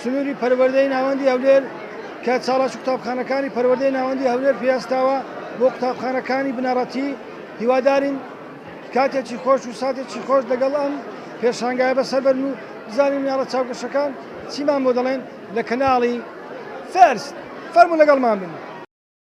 سنووری پەروەردەی ناوەندی هەولێر کە چالاکی قوتابخانەکانی پەروەردەی ناوەندی هەولێر پێستاوە بۆ قوتابخانەکانی بنەڕەتی هیوادارین کاتێکی خۆش و ساتێکی خۆش لەگەڵ ئەم پێشانگای بەسەر بەن و بزانین مناڵە چاوگەشەکان چیمان بۆ دەڵێن لە کەناڵی فەرست فەرمو لەگەڵمان بن.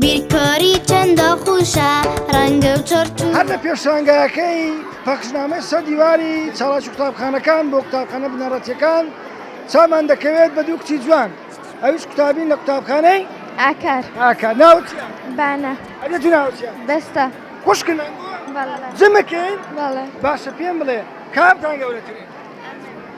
بیرکاری چەندە خوشە ڕەنگە و چۆرت هەر لە پێشانگاکەی پەخشنامەی سە دیواری چاڵاش قوتابخانەکان بۆ قوتابخانە بنەڕەتەکان چامان دەکەوێت بە دوو کچی جوان ئەوش قوتابین لە قوتابخانەی ئاکار ئاکار ناوت بانە ئەێت ناوت بەستە خوشکنە جمەکەین باشە پێم بڵێ کامتان گەورەترین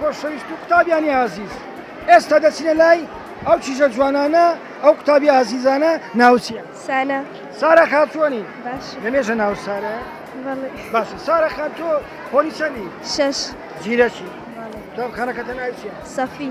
خۆشەویست و قوتابیانی ئازیز ئێستا دەچینە لای ئەو چیژە جوانانە ئەو قوتابی ئازیزانە ناوچیە سانە سارا خاتوانی لەمێژە ناو سارە باش سارا خان تۆ پۆلی چەندی شش زیرەکی قوتابخانەکەتە ناوچیە سەفی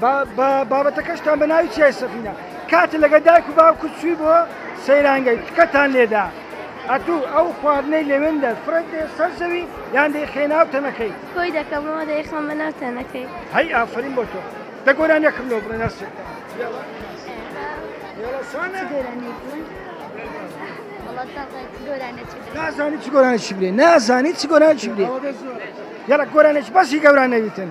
بە بابەتەکەشتان بە ناوی چیای سەفینە کاتە لەگە دایک و باوکو چوی بۆ سەیرانگەی تکەتان لێدا ئەتو ئەو خواردنەی لەوێن دەر فرەت دێ سەر زەوی یان دەی خێناو تەنەکەی کۆی دەکەمەوە دەی خەمە ناو تەنەکەی هەی ئافرین بۆ تۆ دە گۆران یەکم لۆ بڵێ ناسی نازانی چ گۆرانێکی بێ نازانی چ گۆرانێکی بێ یەڵە گۆرانێک بەسی گەوران نەویتن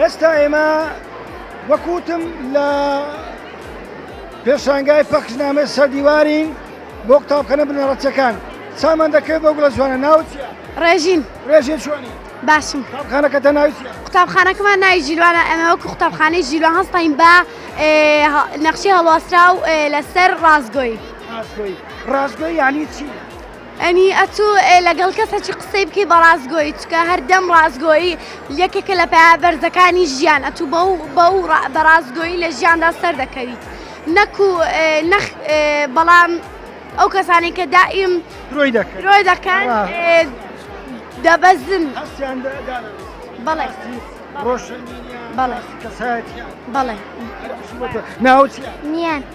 ئێستا ئێمە وەکوتم لە پێشانگای پەخشنامە سەردیوارین بۆ قوتابخەنە بنەڕەتەکان سامان دەکرێت بۆ گڵە جوانە ناوچ ڕێژین ڕێژێ چۆنی باشم قوتابخانەکە تە ناوچ قوتابخانەکەمان ناوی ژیلوانە ئەمە وەکو قوتابخانەی ژیلوان هەستین بە نەخشی هەڵواسرا و لەسەر ڕاستگۆی ڕاستگۆی ڕاستگۆی یعنی چی؟ ئەنی ئەتو لەگەڵ کەسە چی قسەی بکەی بە ڕاستگۆی چکە هەردەم ڕاستگۆی یەکێکە لە پیا بەرزەکانی ژیان ئەتو بە و بە و بە ڕاستگۆی لە ژیاندا سەردەکەویت نەکو نەخ بەڵام ئەو کەسانی کە دائیم درۆی دەکەن درۆی دەکەن دەبەزن بەڵێ ڕۆشن بەڵێ کەسایەتی بەڵێ ناوچ نیان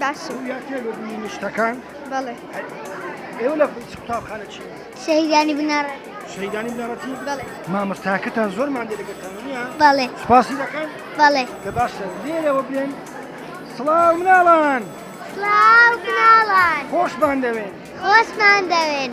باشم سەویا تێ بە بینی شتەکان بەڵێ ئێوە لە قوتابخانە چی شەهیدانی بناڕە شەهیدانی بناڕەتی بەڵێ مامۆستاکەتان زۆرمان دەگەتان نیە بەڵێ سپاسی دەکەن بەڵێ لە باشە لێرەوە بێن سڵاو مناڵان سڵاو مناڵان خۆشمان دەوێن خۆشمان دەوێن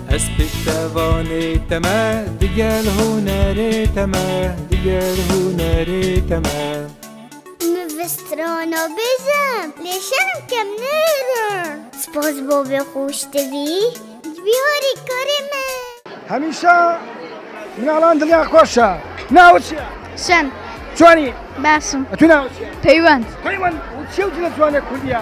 ئەز پشتەوانێ تەمە دگەل هونەرێ تەمە دگەل هونەرێ تەمە نوسترۆنۆ بێژم لێ شەرم کەم نێرم سپۆز بۆ بێ خۆشتبی جبی هۆری کۆرێ من هەمیشە مناڵان دڵیان خۆشە ناوت چیە؟ شەن چۆنی؟ باشم ئەتوو ناوت چیە؟ پەیوەند پەیوەند چی و جلە جوانە کوردیە؟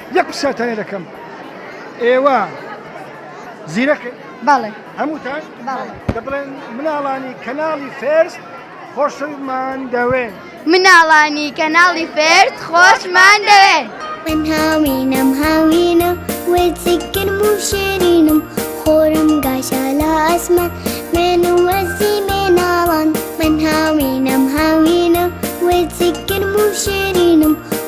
یەک پرسیار تانە دەکەم ئێوە زیرەک بەڵێ هەمووتان دەبڵێن مناڵانی کەناڵی فێرس خۆشمان دەوێن مناڵانی کەناڵی فێرس خۆشمان دەوێن من هاوینم هاوینە وێزیکرد و شێرینم خۆرم گاشە لە ئەسمە مێن و وەزی مێناڵان من هاوینم هاوینە وێزیکرد و شێرینم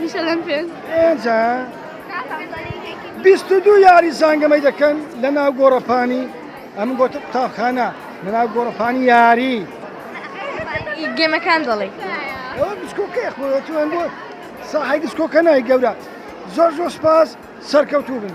میشەلەن پێنج ئێجا بیست و دوو یاری زانگەمەی دەکەن لە ناو گۆڕەپانی ئەم گۆتە قوتابخانە لە ناو گۆڕەپانی یاری گێمەکان دەڵێ ئەوە بچکۆکە خۆەوە ساحی دسکۆکە نای گەورە زۆر زۆر سپاس سەرکەوتوو بن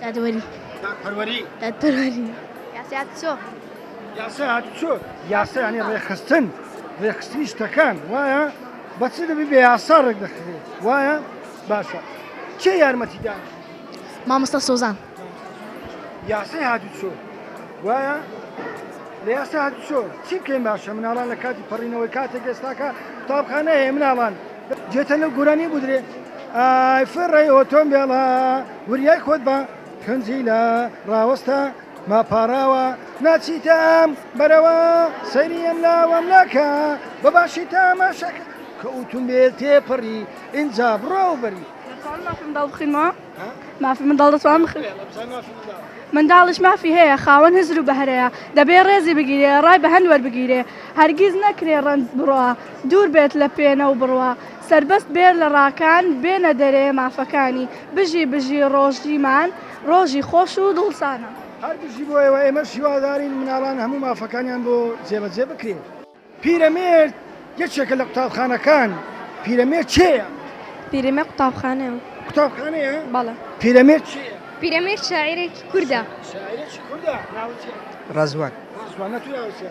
دادوەری. دادپەروەری. دادپەروەری. یاسای هاتوچۆ. یاسای هاتوچۆ یاسا یانی ڕێکخستن ڕێکخستنی شتەکان وایە بە چ دەبی بێ یاسا ڕێک دەخرێت وایە باشە چێ یارمەتیدان مامۆستا سۆزان یاسای هاتوچۆ وایە لە یاسا هاتوچۆ چی بکەین باشە مناڵان لە کاتی پەڕینەوەی کاتێک ئێستاکە تاپخانە هەیە مناڵان جێتە لەو گۆرانی بودرێ ئایفڕی ئۆتۆمبێڵە وریای خۆت بە کونجی لە ڕاوەستە ما پاڕاوە ناچیتە ئەم بەرەوە سەیری ئەم لاوەم ناکە بە باشی تاماشەکە کە ئوتوم بێ تێپەڕی ئینجا بڕۆ و بەری مافی منداڵ دەتوان بخ منداڵش مافی هەیە خاوەن هزر و بەهرەیە دەبێ ڕێزی بگیرێ ڕای بە هەند وەربگیرێ هەرگیز نەکرێ ڕەنج بڕە دوور بێت لە پێێنە و بڕە سەربەست بێر لە ڕاکان بێنە دەرێ مافەکانی. بژی بژی ڕۆژیمان ڕۆژی خۆش و دڵسانە. هەر بژی بۆ ئێوە ئێمەش هیوادارین مناڵان هەموو مافەکانیان بۆ جێبەجێ بکرێ. پیرەمێرد یەکێکە لە قوتابخانەکان پیرەمێرد کێیە؟ پیرەمێرد قوتابخانەیە. قوتابخانەیە؟ بەڵێ. پیرەمێرد کێیە؟ پیرەمێرد شاعیرێکی کوردە. شاعیرێکی کوردە ناوی چیە؟ ڕەزوان. ڕەزوان نەتوو ناوی چیە؟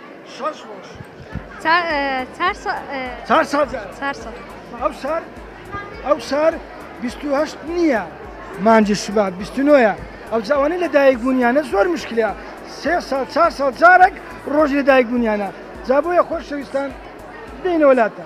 شەش ڕۆژ چار ساڵ ئەو سار هەشت نییە مانجی شوبات بیستنۆە ئەو جاوانەی لە دایک بوونیانە زۆر مشکلە سێ ساڵ چار ساڵ جارێک ڕۆژ لە دایک بوونیانە جا بۆیە خۆشەویستان دێنەوەلاتە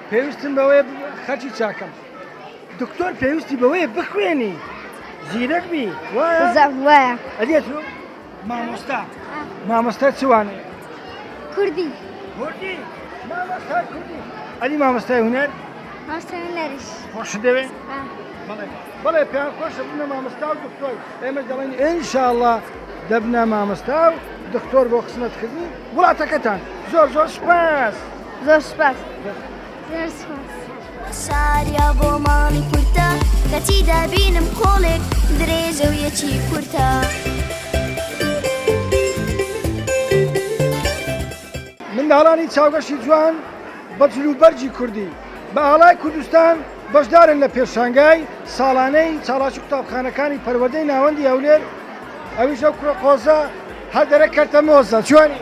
پێویستم بەوەیە خەرچی چاکەم دکتۆر پێویستی بەوەیە بخوێنی زیرەک بی وایە ئەدێت مامۆستا مامۆستا چوانێ کوردی کوردی مامۆستا کوردی ئەلی مامۆستای هونەر خۆش دەوێ بڵێ پێ خۆش بنە مامۆستا و دکتۆر ئێمە دەڵێن ئینشاءله دەبنە مامۆستا و دکتۆر بۆ خزمەتکردنی وڵاتەکەتان زۆر زۆر سپاس. زۆر سپاس زۆر سپاس ساریا بۆ ماڵی کورتە کەچی دابینم کۆڵێک درێژە و یەکی کورتە. منداڵانی چاوگەشی جوان بە جلوبەرگی کوردی بە ئاڵای کوردستان بەشدارن لە پێشانگای ساڵانەی چاڵاکی قوتابخانەکانی پەروەردەی ناوەندی هەولێر ئەویش ئەو کوڕە قۆزە هەر دەرە کەرتە مۆزە جوانی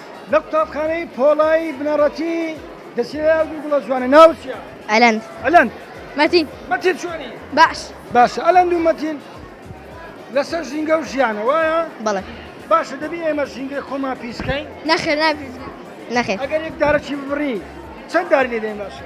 لە قوتابخانەی پۆڵای بنەڕەتی دەسیەوە ئەو دوو گوڵە جوانە ناو چیە؟ ئەلەند ئەلەند مەتین مەتین چۆنی؟ باش باشە ئەلەند و مەتین لەسەر ژینگە و ژیانە وایە؟ بەڵێ باشە دەبی ئێمە ژینگەی خۆمان پیسکەین؟ نەخێر نابیزگە نەخێر ئەگەر یەک دارەکی ببڕی چەند داری لێ دەین باشە؟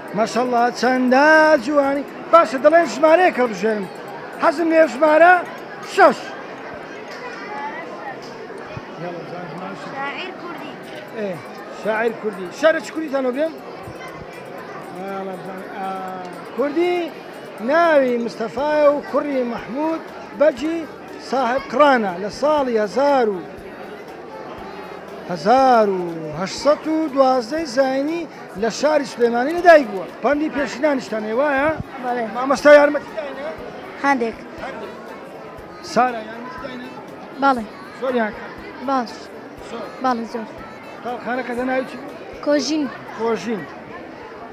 ماشاءاللە چەندە جوانی. باشە دەڵێن ژمارەیەک هەڵبژێرن حەزم لێ ژمارە شەش شاعر کوردی شارە چ کوردیتانەوە بێن کوردی ناوی مستەفاە و کوڕی مححمود بەجی صاحب قڕانە لە ساڵی هزار و 1970 زینی لە شاری سلێمانی لە دایک بووە پەندی پێشینانیشتان هەیە وایە بەڵێ مامۆستا یارمەتی داینێ هەندێک هەندێک سارا یارمەتی داینێ بەڵێ زۆریان کرد باش زۆر بەڵێ زۆر قوتابخانەکە دەناوی چی بوو کۆژین کۆژین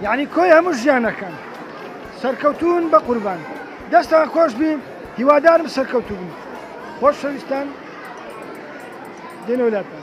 یعنی کۆی هەموو ژیانەکان سەرکەوتون بە قوربان دەستان خۆش بی هیوادارم سەرکەوتو بن خۆشەویستان دێنەوە لاتان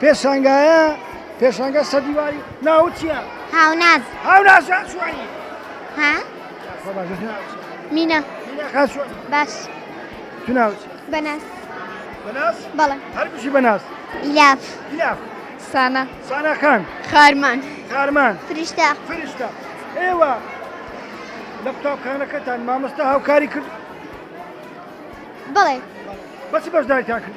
پێشانگایە پێشانگە سەر دیواری ناو چییە؟ هاوناز هاوناز چوانی ها؟ مینە باش توناوچ بەناس بەناس بەڵێ هەربژی بەناس ئیلاف ئیلاف سانا سانا خان خارمان خارمان فریشتە فریشتە ئێوە لە قوتابخانەکەتان مامۆستا هاوکاری کرد بڵێ بەچ بەشداریتان کرد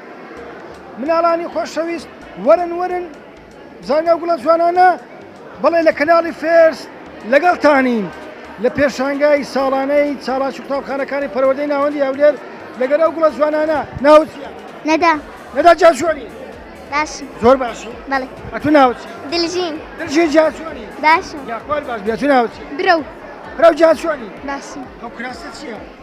مناڵانی خۆشەویست وەرن وەرن زاناو گوڵە جوانانە بەڵێ لە کەناڵی فێرس لەگەڵتانین لە پێشانگای ساڵانەی چاڵاش و قوتابخانەکانی پەروەردەی ناوەندی هەولێر لەگەر ئەو گوڵە جوانانە ناوت نەدا نەدا جاشوانی باش زۆر باش بەڵێ ئەتو ناوت دلژین دلژین جاشوانی باش یاخوار باش بێتو ناوت برو برو جاشوانی باش ئەو کراسە چییە؟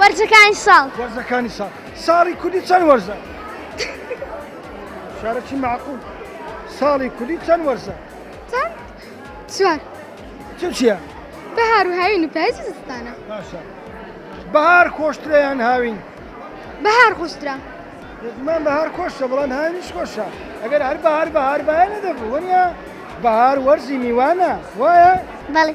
وەرزەکانی ساڵ وەرزەکانی ساڵ ساڵی کوردی چەند وەرزە شارەکی معقول ساڵی کوردی چەند وەرزە چەند چوار چ چیە بەهار و هاوین و پایزی زستانە باشە بەهار خۆشتریان هاوین بەهار خۆشترا زمان بەهار خۆشە بەڵام هاوینش خۆشە ئەگەر هەر بەهار بەهار باە نەدەبوو وەنە بەهار وەرزی میوانە وایە بەڵێ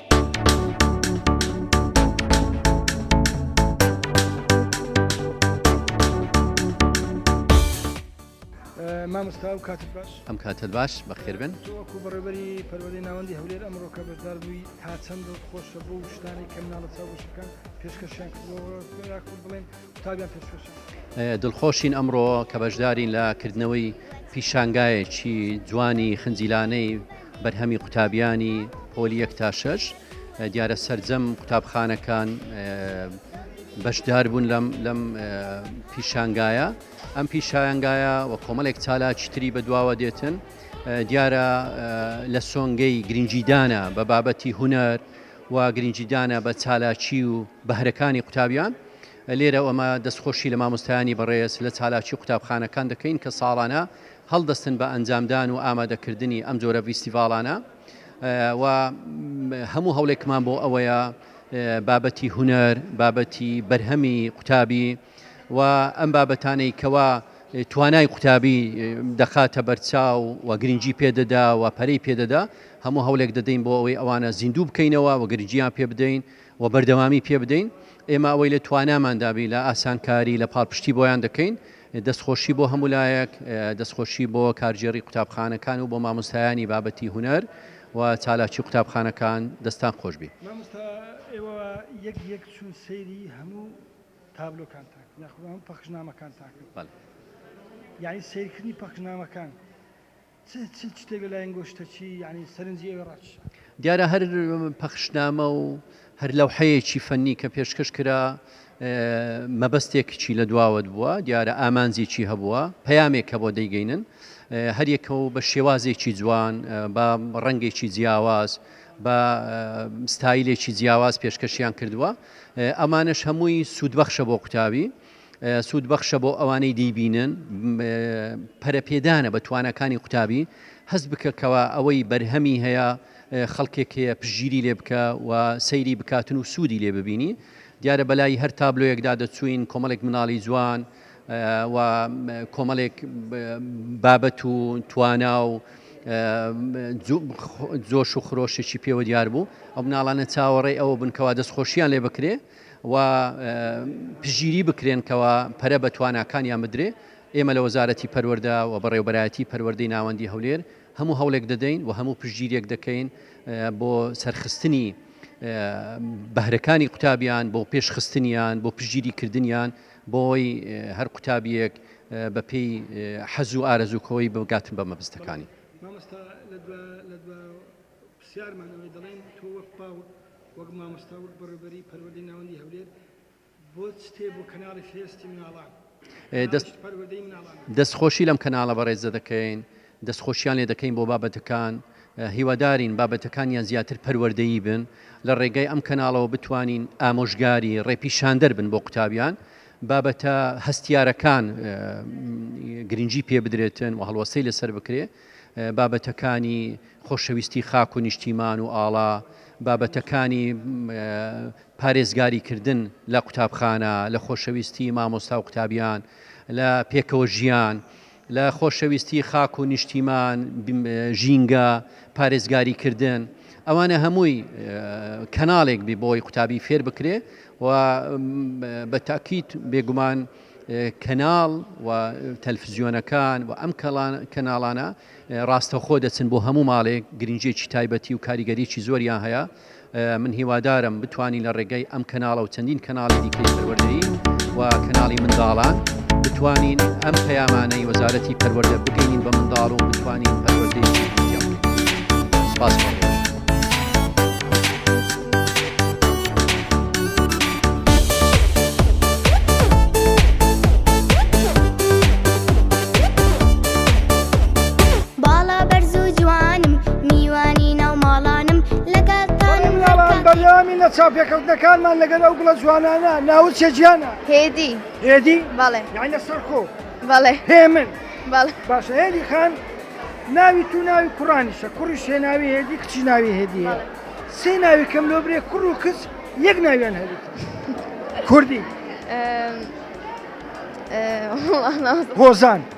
مامۆستا و کاتت باش ئەم کاتت باش بەخێربن وەکو بەڕێبەری پەروەدەی ناوەندی هەولێر ئەمڕۆکە بەشدار بووی تا چەند خۆشە بۆ شتانی کە مناڵە چاوشەکان پێشکەشیان کردەوە بڵێن قوتابیان پێشکەشە. دڵخۆشین ئەمڕۆ کە بەشدارین لە کردنەوەی پیشانگایەکی جوانی خنجیلانەی بەرهەمی قوتابیانی پۆلی یەک تا شەش دیارە سەرجەم قوتابخانەکان بەشدار بوون لەم لەم پیشانگایە ئەم پیشایانگایە و کۆمەڵێک چالاکی تری بەدواوە دێتن دیارە لە سۆنگەی گرنگیدانە بە بابەتی هوەر و گرنگیدانە بە چالاکی و بەهرەکانی قوتابیان، لێرە ئێمە دەستخۆشی لە مامۆستایانی بەڕێز لە چالاکی قوتابخانەکان دەکەین کە ساڵانە هەڵدەستن بە ئەنجامدان و ئامادەکردنی ئەم جۆرە ڤیستیڤاڵانە و هەموو هەوڵێکمان بۆ ئەوەیە بابەتی هونەر، بابەتی بەرهەمی قوتابی، و ئەم بابەتانەی کەوا توانای قوتابی دەخاتە بەرچاو و گرنگی پێدەدا و پەرەی پێدەدا هەموو هەولێک دەدەین بۆ ئەوەی ئەوانە زیندوو بکەینەوە و گرنگیان پێ بدەین و بەردەوامی پێ بدەین ئێمە ئەوەی لە توانامان دابی لە ئاسانکاری لە پاڵپشتی بۆیان دەکەین دەستخۆشی بۆ هەموو لایەک دەستخۆشی بۆ کارگێڕی قوتابخانەکان و بۆ مامۆستایانی بابەتی هوەر و چالاکی قوتابخانەکان دەستان خۆشبی. تابلۆکان تاکە یاخود ئەم پەخشنامەکان تاکە یعنی سیرکردنی پەخشنامەکان شتێک لە لایەن گۆشتەچی یعنی سەرنجی ئەوێ ڕاچ دیارە هەر پەخشنامە و هەر لەو حەیەکی فەنی کە پێشکەش کرا مەبەستێکچی لە دواوەت بووە دیارە ئامانجێکی هەبووە پەیامێک کە بۆ دەیگەینن هەریەکە و بە شێوازێکی جوان بە ڕەنگێکی جیاواز بە ستایلێکی جیاواز پێشکەشیان کردووە ئەمانەش هەمووی سوودبەخشە بۆ قوتابی، سوودبەخشە بۆ ئەوانەی دەیبینن، پەرەپێدانە بە تواناکانی قوتابی، هەست بکە کەوا ئەوەی بەرهەمی هەیە خەڵکێک هەیە پشتگیری لێ بکە و سەیری بکاتن و سوودی لێ ببینی، دیارە بەلای هەر تابلۆیەکدا دەچووین کۆمەڵێک مناڵی جوان، و کۆمەڵێک بابەت و توانا و جۆش و خرۆشێکی پێوە دیار بوو ئەو مناڵانە چاوەڕێ ئەوە بنکەوە دەست خۆشییان لێ بکرێ و پژیری بکرێنکەوە پەرە بە تواناکانیان بدرێ ئێمە لە وەزارەتی پەروەەردە و بەڕێوبەرایەتی پەروەردەی ناوەندی هەولێر هەموو هەوڵێک دەدەین و هەموو پژگیریەک دەکەین بۆ سەرخستنی بەهرەکانی قوتابیان بۆ پێشخستنیان بۆ پژگیری کردنیان بۆی هەر قوتابیەک بە پێی حەز و ئارەزوو خۆی بگات بە مەبستەکانی. مامۆستا لە دوا لە دوا پرسیارمان ئەوەی دەڵێن تۆ وەک پاو وەک مامۆستا وەک بەڕێوبەری پەروەردەی ناوەندی هەولێر بۆ چتێ بۆ کەناڵی فێستی مناڵان دەست پەروەردەی مناڵان دەست خۆشی لەم کەناڵە بەڕێزە دەکەین دەستخۆشیان لێ دەکەین بۆ بابەتەکان، هیوادارین بابەتەکانیان زیاتر پەروەردەیی بن، لە ڕێگای ئەم کەناڵەوە بتوانین ئامۆژگاری، ڕێپیشاندەر بن بۆ قوتابیان، بابەتە هەستیارەکان گرنگی پێ بدرێتن و هەڵوەستەی لەسەر بکرێ، بابەتەکانی خۆشەویستی خاک و نیشتیمان و ئاڵا، بابەتەکانی پارێزگاری کردن لە قوتابخانە، لە خۆشەویستی مامۆستا و قوتابیان، لە پێکەوە ژیان، لە خۆشەویستی خاک و نیشتیمان، ژینگە، پارێزگاری کردن، ئەوانە هەمووی کەناڵێک بێ بۆی قوتابی فێر بکرێ و بە تاکیت بێگومان کەناڵ و تەلفزیۆنەکان و ئەم کەناڵانە ڕاستەخۆ دەچن بۆ هەموو ماڵێک گرنجێکی تایبەتی و کاریگەریی زۆریان هەیە. من هیوادارم بتوانین لە ڕێگای ئەم کەناڵە و چەندین کەناڵی دیکەی پەروەردەیی و کەناڵی منداڵان بتوانین ئەم پەیامانەی وەزارەتی پەروەردە بگەینین بە منداڵ و بتوانین پەروەردەیەکی جوانیان بکەین. سپاس بۆ ڕۆژ. باڵا بەرز و جوانم میوانی ناو ماڵانم لەگەڵ تانم هەر کام. بەڵێن یاران بەردەوامی لە چاوپێکەوتنەکانمان لەگەل ئەو گوڵە جوانانە ناوچە جیانە. هێدی. هێدی؟ بەڵێ. یانی لە سەرخۆ. بەڵێ. هێمن. بەڵێ. باشە هێدی خان ناوی تو ناوی کوڕانیشە کوڕیش هێناوی هێدی کچی ناوی هێدی هەیە سێ ناوی کەم لۆ برێ کوڕ و کچ یەک ناویان هەریتە کوردی. هۆزان.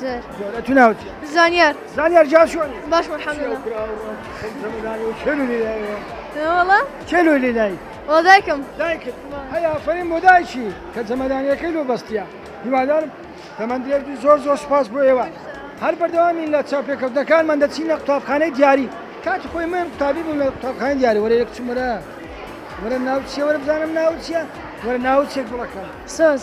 زۆرە تو ناوت زانیار زانیار جا شوێنی باش مەرحەمدڵە چێلو لێ لای دایکم دایکت هەیە ئافرین بۆ دایکی کە جەمەدانیەکەی لۆ بەستە هیوادارم تەمەند درێژ بی زۆر زۆر سپاس بۆ ئێوە هەر بەردەوامین لە چاپێکەوتنەکانمان دەچینە قوتابخانەی دیاری کاتی خۆی من قوتابی بووم لە قوتابخانەی دیاری وەرە یەک چمرە وەرە ناوچیە وەرە بزانم ناوچە وەرە ناوچێک بڵەکەم سۆز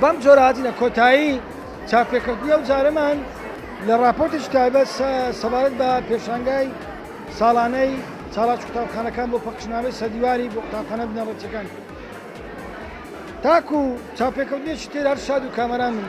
بەم جۆرە هاتینە کۆتایی چاپێکەوتنی ئەو جارەمان لە ڕاپۆرتێکی تایبەت سەبارەت بە پێشانگای ساڵانەی چالاکی قوتابخانەکان بۆ پەخشنامەی سەدیواری بۆ قوتابخانە بنەڕەتیەکان تاکو چاپێکەوتنێکی تر هەر شاد و کامەران بن.